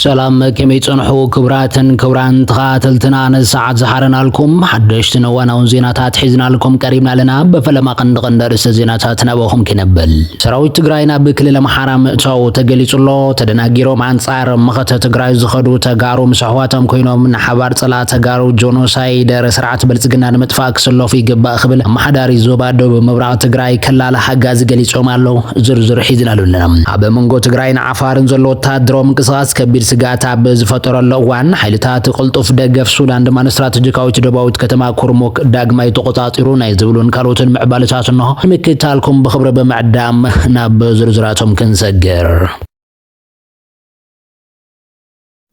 ሰላም ከመይ ጸንሑ ክብራትን ክብራን ተኸታተልትና ነዚ ሰዓት ዝሓረናልኩም ሓደሽትን እዋናውን ዜናታት ሒዝናልኩም ቀሪብና ኣለና። በፈለማ ቀንዲ ቀንዲ ኣርእስተ ዜናታት ናባኹም ክነብል ሰራዊት ትግራይ ናብ ክልል ኣምሓራ ምእታዉ ተገሊጹ ኣሎ። ተደናጊሮም ኣንጻር መኸተ ትግራይ ዝኸዱ ተጋሩ ምስ ኣሕዋቶም ኮይኖም ንሓባር ጸላእ ተጋሩ ጆኖሳይደር ስርዓት ብልጽግና ንምጥፋእ ክስለፉ ይግባእ ክብል ኣመሓዳሪ ዞባ ዶብ ምብራቕ ትግራይ ከላለ ሓጋዚ ገሊጾም ኣለዉ። ዝርዝሩ ሒዝናሉ ኣለና። ኣብ መንጎ ትግራይን ዓፋርን ዘሎ ወተሃደራዊ ምንቅስቓስ ከቢድ ስግኣት ኣብ ዝፈጠረሉ እዋን፣ ሓይልታት ቅልጡፍ ደገፍ ሱዳን ድማ ንስትራተጂካዊት ደቡባዊት ከተማ ኩርሙክ ዳግማይ ተቖጻጺሩ ናይ ዝብሉን ካልኦትን ምዕባለታት እንሆ። ንምክትታልኩም ብኽብሪ ብምዕዳም ናብ ዝርዝራቶም ክንሰግር።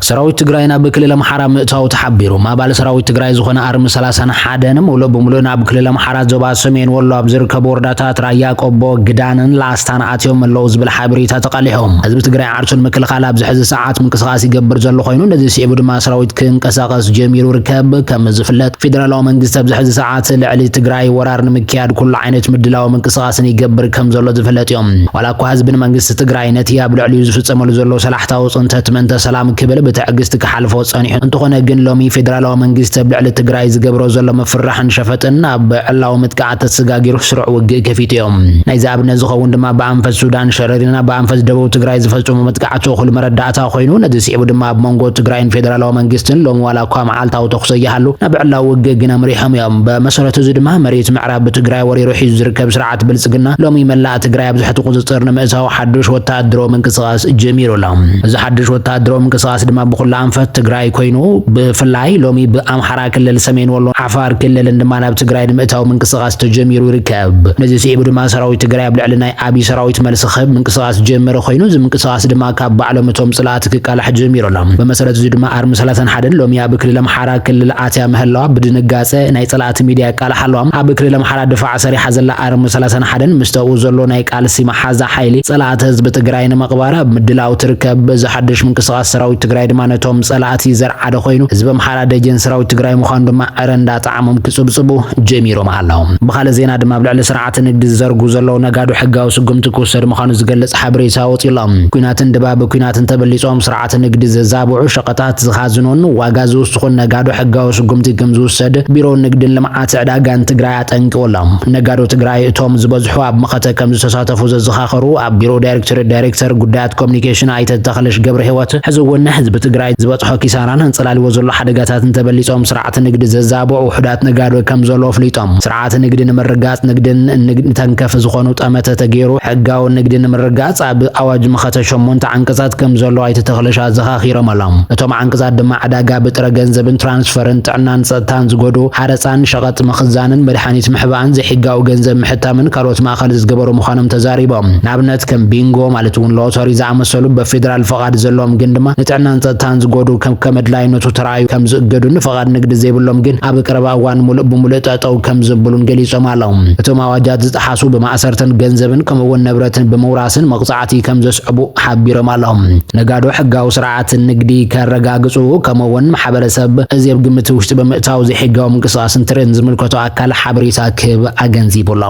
ሰራዊት ትግራይ ናብ ክልል ኣምሓራ ምእታዉ ተሓቢሩ። ኣባል ሰራዊት ትግራይ ዝኾነ ኣርሚ ሰላሳን ሓደን ምሉእ ብምሉእ ናብ ክልል ኣምሓራ ዞባ ሰሜን ወሎ ኣብ ዝርከቡ ወረዳታት ራያ ቆቦ፣ ግዳንን ላስታን ኣትዮም ኣለዉ ዝብል ሓበሬታ ተቓሊሑ። ህዝቢ ትግራይ ዓርሱ ንምክልኻል ኣብዚ ሕዚ ሰዓት ምንቅስቓስ ይገብር ዘሎ ኮይኑ ነዚ ስዒቡ ድማ ሰራዊት ክንቀሳቐስ ጀሚሩ ይርከብ። ከም ዝፍለጥ ፌደራላዊ መንግስቲ ኣብዚ ሕዚ ሰዓት ልዕሊ ትግራይ ወራር ንምክያድ ኩሉ ዓይነት ምድላዊ ምንቅስቓስ ቃልስን ይገብር ከም ዘሎ ዝፍለጥ እዩ። ዋላ እኳ ህዝብን መንግስቲ ትግራይ ነቲ ኣብ ልዕሊኡ ዝፍፀመሉ ዘሎ ሰላሕታዊ ፅንተት ምእንተ ሰላም ክብል ብትዕግስቲ ክሓልፎ ፀኒሑ እንተኾነ ግን ሎሚ ፌደራላዊ መንግስቲ ኣብ ልዕሊ ትግራይ ዝገብሮ ዘሎ ምፍርራሕን ሸፈጥን ኣብ ዕላዊ ምጥቃዓት ተሰጋጊሩ ስሩዕ ውግእ ከፊቱ እዩ። ናይዚ ኣብነት ዝኸውን ድማ ብኣንፈት ሱዳን ሸረሪና ብኣንፈት ደቡብ ትግራይ ዝፈፀሞ መጥቃዕቲ እኹል መረዳእታ ኮይኑ ነዚ ስዒቡ ድማ ኣብ መንጎ ትግራይን ፌደራላዊ መንግስትን ሎሚ ዋላ እኳ መዓልታዊ ተኹሲ ኣይሃሉ ናብ ዕላዊ ውግእ ግን ኣምሪሖም እዮም። በመሰረቱ እዚ ድማ መሬት ምዕራይ ኣብ ትግራይ ወሪሩ ሒዙ ዝርከብ ስርዓት ብልፅግና ሎሚ መላእ ትግራይ ኣብ ትሕቲ ቁፅፅር ንምእታው ሓዱሽ ወተሃደራዊ ምንቅስቓስ ጀሚሩ ኣሎ። እዚ ሓዱሽ ወተሃደራዊ ምንቅስቓስ ድማ ብኩላ ኣንፈት ትግራይ ኮይኑ ብፍላይ ሎሚ ብኣምሓራ ክልል ሰሜን ወሎ፣ ዓፋር ክልልን ድማ ናብ ትግራይ ንምእታው ምንቅስቓስ ተጀሚሩ ይርከብ። ነዚ ስዒቡ ድማ ሰራዊት ትግራይ ኣብ ልዕሊ ናይ ኣብይ ሰራዊት መልሲ ክህብ ምንቅስቓስ ጀመረ ኮይኑ እዚ ምንቅስቓስ ድማ ካብ ባዕሎም እቶም ፅላእቲ ክቃላሕ ጀሚሩ ኣሎ። ብመሰረት እዚ ድማ ኣርሚ 31 ሎሚ ኣብ ክልል ኣምሓራ ክልል ኣትያ ምህላዋ ብድንጋፀ ናይ ፀላእቲ ሚድያ ካልእ ሓለዋም ኣብ ክልል ኣምሓራ ድፋዕ ሰሪሓ ዘላ ኣርሚ ሰላሳን ሓደን ምስተኡ ዘሎ ናይ ቃልሲ መሓዛ ሓይሊ ፀላእቲ ህዝቢ ትግራይ ንምቕባር ኣብ ምድላው ትርከብ። በዚ ሓዱሽ ምንቅስቓስ ሰራዊት ትግራይ ድማ ነቶም ፀላእቲ ዘርዓደ ኮይኑ ህዝቢ ኣምሓራ ደጀን ሰራዊት ትግራይ ምዃኑ ድማ ዕረ እንዳጠዓሞም ክፅብፅቡ ጀሚሮም ኣለው። ብኻልእ ዜና ድማ ኣብ ልዕሊ ስርዓት ንግዲ ዝዘርጉ ዘለው ነጋዶ ሕጋዊ ስጉምቲ ክውሰድ ምዃኑ ዝገልፅ ሓበሬታ ወፂኡ'ሎ። ኲናትን ድባብ ኲናትን ተበሊፆም ስርዓት ኣቲ ንግዲ ዘዛብዑ፣ ሸቐጣት ዝኻዝኑን ዋጋ ዝውስኹን ነጋዶ ሕጋዊ ስጉምቲ ክምዝውሰድ ቢሮ ንግድን ልምዓት ዕዳጋን ትግራይ ኣጠንቂቑ ኣሎ። ነጋዶ ትግራይ እቶም ዝበዝሑ ኣብ መኸተ ከምዝተሳተፉ ዘዘኻኸሩ ኣብ ቢሮ ዳይሬክቶሬት ዳይሬክተር ጉዳያት ኮሚኒኬሽን ኣይተ ተኽልሽ ገብረሂወት፣ ሕዚ እውን ንህዝቢ ትግራይ ዝበፅሖ ኪሳራን ኣንፀላሊዎ ዘሎ ሓደጋታትን ተበሊፆም ስርዓት ንግዲ ዘዛብዑ ውሑዳት ነጋዶ ከምዘለዉ ኣፍሊጦም። ስርዓት ንግዲ ንምርግጋፅ ንግድን ንግድ ተንከፍ ዝኾኑ ጠመተ ተገይሩ ሕጋዊ ንግዲ ንምርግጋፅ ኣብ ኣዋጅ መኸተ ሸሞንተ ዓንቀፃት ከምዘሎ ኣይተ ተኽለሽ ኣዘኻኺሮም ኣሎም። እቶም ዓንቀፃት ድማ ዕዳጋ ብጥረ ገንዘብን ትራንስፈርን፣ ጥዕናን ፀጥታን ዝጎድኡ፣ ሓረፃን፣ ሸቐጥ ምኽዛንን፣ መድሓኒት ምሕባእን፣ ዘይሕጋዊ ገንዘብ ምሕታምን ካልኦት ማእኸል ዝገበሩ ምዃኖም ተዛሪቦም። ንኣብነት ከም ቢንጎ ማለት እውን ሎቶሪ ዝኣመሰሉ በፌዴራል ፍቓድ ዘለዎም ግን ድማ ንጥዕናን ፀጥታን ዝጎድኡ ከከም ኣድላይነቱ ተራእዩ ከምዝእገዱን ፍቓድ ንግዲ ዘይብሎም ግን ኣብ ቀረባ እዋን ሙሉእ ብሙሉእ ጠጠው ከምዝብሉን ገሊፆም ኣለው። እቶም ኣዋጃት ዝጠሓሱ ብማእሰርትን ገንዘብን ከምኡ እውን ንብረትን ብምውራስን መቕፃዕቲ ከምዘስዕቡ ሓቢሮም ኣለው። ነጋዶ ሕጋዊ ስርዓት ንግዲ ከረጋግፁ ከምኡ እውን ማሕበረሰብ እዚ ኣብ ግምት ውሽጢ ብምእታው ዘይሕጋዊ ምንቅስቓስ እንትርኢ ንዝምልከቶ ኣካል ሓበሬታ ክህብ ኣገንዚቡ ኣሎ።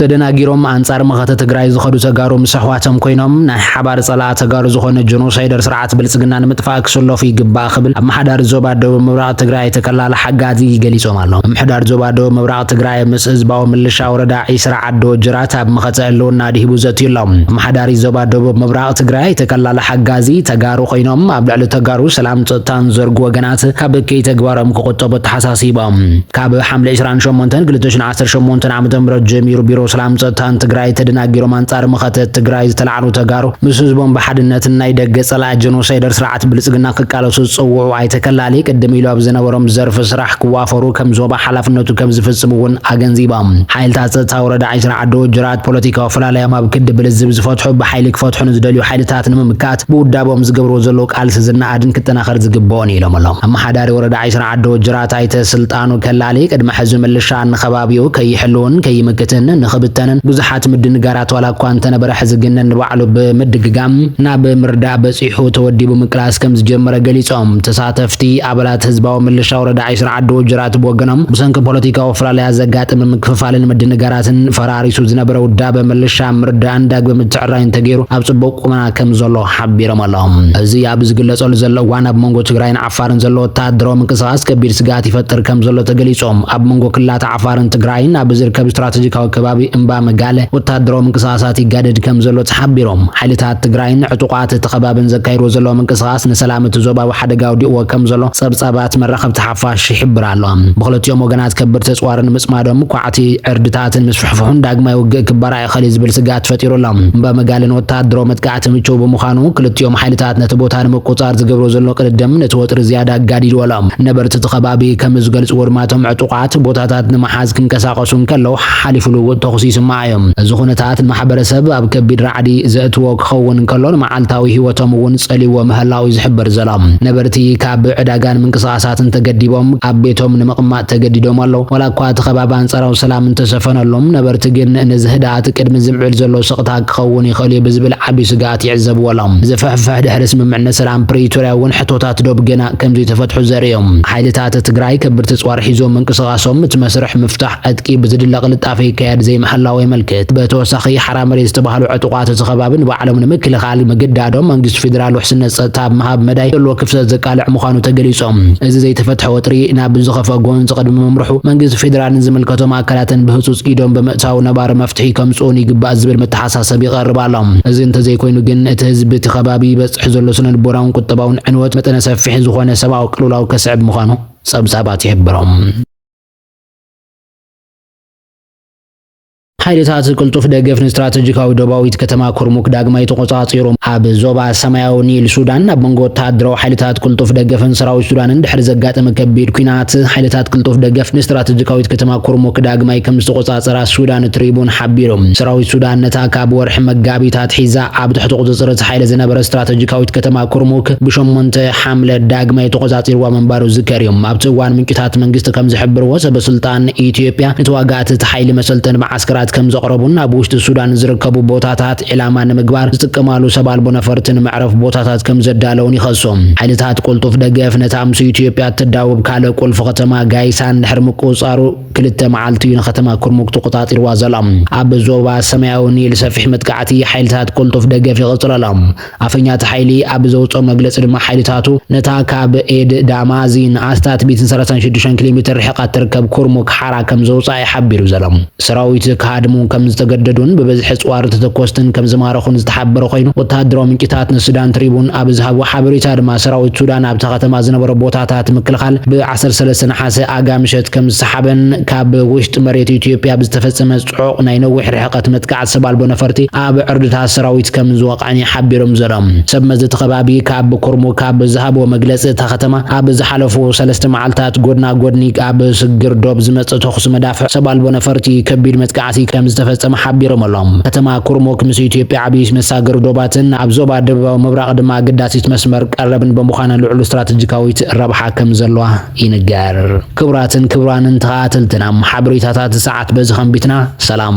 ተደናጊሮም ኣንጻር መኸተ ትግራይ ዝኸዱ ተጋሩ ምስ ኣሕዋቶም ኮይኖም ናይ ሓባር ጸላኣ ተጋሩ ዝኾነ ጆኖሳይደር ስርዓት ብልጽግና ንምጥፋእ ክስለፉ ይግባእ ክብል ኣመሓዳሪ ዞባ ደቡብ ምብራቕ ትግራይ ኣይተ ከላለ ሓጋዚ ገሊጾም ኣለው። ምምሕዳር ዞባ ደቡብ ምብራቕ ትግራይ ምስ ህዝባዊ ምልሻ ወረዳ ዒስራ ዓዲ ወጀራት ኣብ መኸተ ህልውና ኣድሂቡ ዘትዩ ኣሎ። ኣመሓዳሪ ዞባ ደቡብ ምብራቕ ትግራይ ኣይተ ከላለ ሓጋዚ ተጋሩ ኮይኖም ኣብ ልዕሊ ተጋሩ ሰላም ጸጥታን ዝዘርጉ ወገናት ካብ እከይ ተግባሮም ክቑጠቡ ኣተሓሳሲቦም። ካብ ሓምለ ዕስራን ሸሞንተን ክልተ ሽሕ ዓሰርተ ሸሞንተ ዓመተ ምህረት ጀሚሩ ቢሮ ሰላም ጸጥታን ትግራይ ተደናጊሮም ኣንጻር መኸተ ትግራይ ዝተላዕሉ ተጋሩ ምስ ህዝቦም ብሓድነት ናይ ደገ ጸላኢ ጀኖሳይደር ስርዓት ብልጽግና ክቃለሱ ዝጸውዑ ኣይተከላሊ ቅድም ኢሉ ኣብ ዝነበሮም ዘርፊ ስራሕ ክዋፈሩ ከም ዞባ ሓላፍነቱ ከም ዝፍጽም እውን ኣገንዚቦም። ሓይልታት ጸጥታ ወረዳ ዒስራ ዓዲ ወጀራት ፖለቲካዊ ፍላላዮም ኣብ ክዲ ብልዝብ ዝፈትሑ ብሓይሊ ክፈትሑ ንዝደልዩ ሓይልታት ንምምካት ብውዳቦም ዝገብርዎ ዘለዉ ቃልሲ ዝነኣድን ክጠናኸር ዝግበኦን ኢሎም ኣሎም። ኣመሓዳሪ ወረዳ ዒስራ ዓዲ ወጀራት ኣይተ ስልጣ ስልጣኑ ከላሊ ቅድሚ ሕዚ ምልሻ ንኸባቢኡ ከይሕልውን ከይምክትን ንኽብተንን ብዙሓት ምድንጋራት ዋላ እኳ እንተነበረ ሕዚ ግን ንባዕሉ ብምድግጋም ናብ ምርዳእ በጺሑ ተወዲቡ ምቅላስ ከም ዝጀመረ ገሊጾም። ተሳተፍቲ ኣባላት ህዝባዊ ምልሻ ወረዳ ዒስራ ዓዲ ወጀራት ብወገኖም ብሰንኪ ፖለቲካዊ ፍላልያት ዘጋጥም ምክፍፋልን ምድንጋራትን ፈራሪሱ ዝነበረ ውዳበ ምልሻ ምርዳእን ዳግበ ምትዕርራይን ተገይሩ ኣብ ጽቡቕ ቁመና ከም ዘሎ ሓቢሮም ኣሎም። እዚ ኣብ ዝግለጸሉ ዘሎ እዋን ኣብ መንጎ ትግራይን ዓፋርን ዘሎ ወተሃደራዊ ምንቅስቓስ ከቢድ ስግኣት ይፈጥር ከምዘሎ ተገሊጾም። ኣብ መንጎ ክልላት ዓፋርን ትግራይን ኣብ ዝርከብ ስትራተጂካዊ ከባቢ እምባ መጋለ ወተሃደራዊ ምንቅስቓሳት ይጋደድ ከምዘሎ ተሓቢሮም። ሓይልታት ትግራይን ዕጡቓት እቲ ከባብን ዘካይድዎ ዘለዉ ምንቅስቓስ ንሰላም እቲ ዞባ ኣብ ሓደጋ ኣውዲቕዎ ከምዘሎ ጸብጻባት መራኸብቲ ሓፋሽ ይሕብራ ኣለዋ። ብኽልቲኦም ወገናት ከበድቲ ኣጽዋርን ምጽማዶም ኳዕቲ ዕርድታትን ምስፍሕፍሑን ዳግማይ ውግእ ክበራዕ እኸሊ ዝብል ስግኣት ፈጢሩ ኣሎ። እምባ መጋል ንወተሃደራዊ መጥቃዕቲ ምቹው ብምዃኑ፣ ክልቲኦም ሓይልታት ነቲ ቦታ ንምቁጽጻር ዝገብሮ ዘሎ ቅድድም ነቲ ወጥሪ ዝያዳ ኣጋዲድዎ ኣሎ። ነበርቲ እቲ ከባቢ ከም ዝገልጽዎ ድማ እቶም ዕጡቓት ቦታታት ንምሓዝ ክንቀሳቐሱ እንከለዉ ሓሓሊፉ ልውውጥ ተኹሲ ይስማዕ እዩ። እዚ ኩነታት ንማሕበረሰብ ኣብ ከቢድ ራዕዲ ዘእትዎ ክኸውን እንከሎ ንመዓልታዊ ህይወቶም እውን ጸልይዎ ምህላዉ እዩ ዝሕበር ዘሎ። ነበርቲ ካብ ዕዳጋን ምንቅስቓሳትን ተገዲቦም ኣብ ቤቶም ንምቕማጥ ተገዲዶም ኣለዉ። ዋላ እኳ እቲ ከባቢ ኣንጻራዊ ሰላም እንተሰፈነሉም፣ ነበርቲ ግን ነዚ ህድኣት ቅድሚ ዝምዕብል ዘሎ ስቕታ ክኸውን ይኽእል እዩ ብዝብል ዓቢ ስግኣት ይዕዘብዎ ኣለዉ። እዚ ፍሕፍሕ ድሕሪ ስምምዕነት ሰላም ፕሪቶርያ እውን ሕቶታት ዶብ ገና ከምዘይተፈትሑ ዘርኢ እዩ። ሓይልታት ትግራይ ከብድቲ ኣጽዋር ሒዞም ምንቅስቓሶም እቲ መስርሕ ምፍታሕ ዕጥቂ ብዝድለ ቅልጣፈ ይካየድ ዘይምሕላዉ የመልክት። ብተወሳኺ ሓራ መሬት ዝተባህሉ ዕጡቓት እቲ ከባቢ ንባዕሎም ንምክልኻል ምግዳዶም መንግስቲ ፌደራል ውሕስነት ጸጥታ ኣብ ምሃብ መዳይ ዘለዎ ክፍተት ቃልዕ ምዃኑ ተገሊጾም። እዚ ዘይተፈትሐ ወጥሪ ናብ ዝኸፍኣ ጎንጺ ቅድሚ ምምርሑ መንግስቲ ፌደራልን ዝምልከቶም ኣካላትን ብህጹጽ ኢዶም ብምእታው ነባሪ መፍትሒ ከምጽኡን ይግባእ ዝብል መተሓሳሰቢ ይቐርብ ኣሎ። እዚ እንተዘይኮይኑ ግን እቲ ህዝቢ እቲ ከባቢ ይበጽሕ ዘሎ ስነልቦናውን ቁጠባውን ዕንወት መጠነ ሰፊሕ ዝኾነ ሰብኣዊ ቅልውላው ከስዕብ ምዃኑ ጸብጻባት ይሕብሩ። ሓይልታት ቅልጡፍ ደገፍ ንስትራተጂካዊ ዶባዊት ከተማ ኩርሙክ ዳግማይ ተቖጻጺሮም። ኣብ ዞባ ሰማያዊ ኒል ሱዳን ኣብ መንጎ ወተሃደራዊ ሓይልታት ቅልጡፍ ደገፍን ሰራዊት ሱዳንን ድሕሪ ዘጋጠመ ከቢድ ኲናት፣ ሓይልታት ቅልጡፍ ደገፍ ንስትራተጂካዊት ከተማ ኩርሙክ ዳግማይ ከም ዝተቖጻጸራ ሱዳን ትሪቡን ሓቢሩ። ሰራዊት ሱዳን ነታ ካብ ወርሒ መጋቢት ኣትሒዛ ኣብ ትሕቲ ቁጽጽር እቲ ሓይሊ ዝነበረት ስትራተጂካዊት ከተማ ኩርሙክ ብሸሞንተ ሓምለ ዳግማይ ተቖጻጺርዋ ምንባሩ ዝዝከር እዩ። ኣብቲ እዋን ምንጭታት መንግስቲ ከም ዝሕብርዎ ሰበ ስልጣን ኣን ኢትዮጵያ ንተዋጋእቲ እቲ ሓይሊ መሰልጠኒ መዓስከራት ከምዘቕረቡን ኣብ ውሽጢ ሱዳን ንዝርከቡ ቦታታት ዒላማ ንምግባር ዝጥቀማሉ ሰብ ኣልቦ ነፈርቲ ንመዕረፍ ቦታታት ከምዘዳለውን ይኸሱ። ሓይልታት ቅልጡፍ ደገፍ ነታ ምስ ኢትዮጵያ እትዳወብ ካልእ ቁልፊ ከተማ ጋይሳን ድሕሪ ምቁጽጻሩ ክልተ መዓልቲ እዩ ንከተማ ኩርሙክ ተቖጻጺርዋ ዘሎ። ኣብ ዞባ ሰማያዊ ኒል ሰፊሕ መጥቃዕቲ ሓይልታት ቅልጡፍ ደገፍ ይቕጽል ኣሎ። ኣፈኛ እቲ ሓይሊ ኣብ ዘውጽኦ መግለጺ ድማ ሓይልታቱ ነታ ካብ ኤድ ዳማዚን ኣስታት ሚእትን ሰላሳን ሽዱሽተን ኪሎ ሜትር ርሒቓ እትርከብ ኩርሙክ ሓራ ከም ዘውጽኣ'ዩ ሓቢሩ ዘሎ። ሰራዊት ክሃድሙ ከም ዝተገደዱን ብብዝሒ ኣጽዋርን ተተኮስትን ከም ዝማረኹን ዝተሓበረ ኮይኑ፣ ወተሃደራዊ ምንጭታት ንሱዳን ትሪቡን ኣብ ዝሃብዎ ሓበሬታ ድማ ሰራዊት ሱዳን ኣብታ ከተማ ዝነበሮ ቦታታት ምክልኻል ብ ዓሰርተ ሰለስተ ነሓሰ ኣጋ ምሸት ከም ዝሰሓበን ካብ ውሽጢ መሬት ኢትዮጵያ ብዝተፈጸመ ጽዑቕ ናይ ነዊሕ ርሕቐት መጥቃዕቲ ሰብ ኣልቦ ነፈርቲ ኣብ ዕርድታት ሰራዊት ከም ዝወቕዐን እዩ ሓቢሮም ዘረኦም። ሰብ መዚ እቲ ከባቢ ካብ ኩርሙክ ካብ ዝሃብዎ መግለጺ እታ ከተማ ኣብ ዝሓለፉ ሰለስተ መዓልታት ጎድና ጎድኒ ኣብ ስግግር ዶብ ዝመጽእ ተኹሲ መዳፍዕ ሰብ ኣልቦ ነፈርቲ ከቢድ መጥቃዕቲ ከም ዝተፈጸመ ሓቢሮም ኣሎም። ከተማ ኩርሙክ ምስ ኢትዮጵያ ዓብይቲ መሳገሪ ዶባትን ኣብ ዞባ ደቡባዊ ምብራቕ ድማ ኣገዳሲት መስመር ቀረብን በምዃና ልዑል ስትራተጂካዊት ረብሓ ከም ዘለዋ ይንገር። ክቡራትን ክቡራንን ተኸታተልትና ሓበሬታታት እዚ ሰዓት በዚ ከንቢትና ሰላም።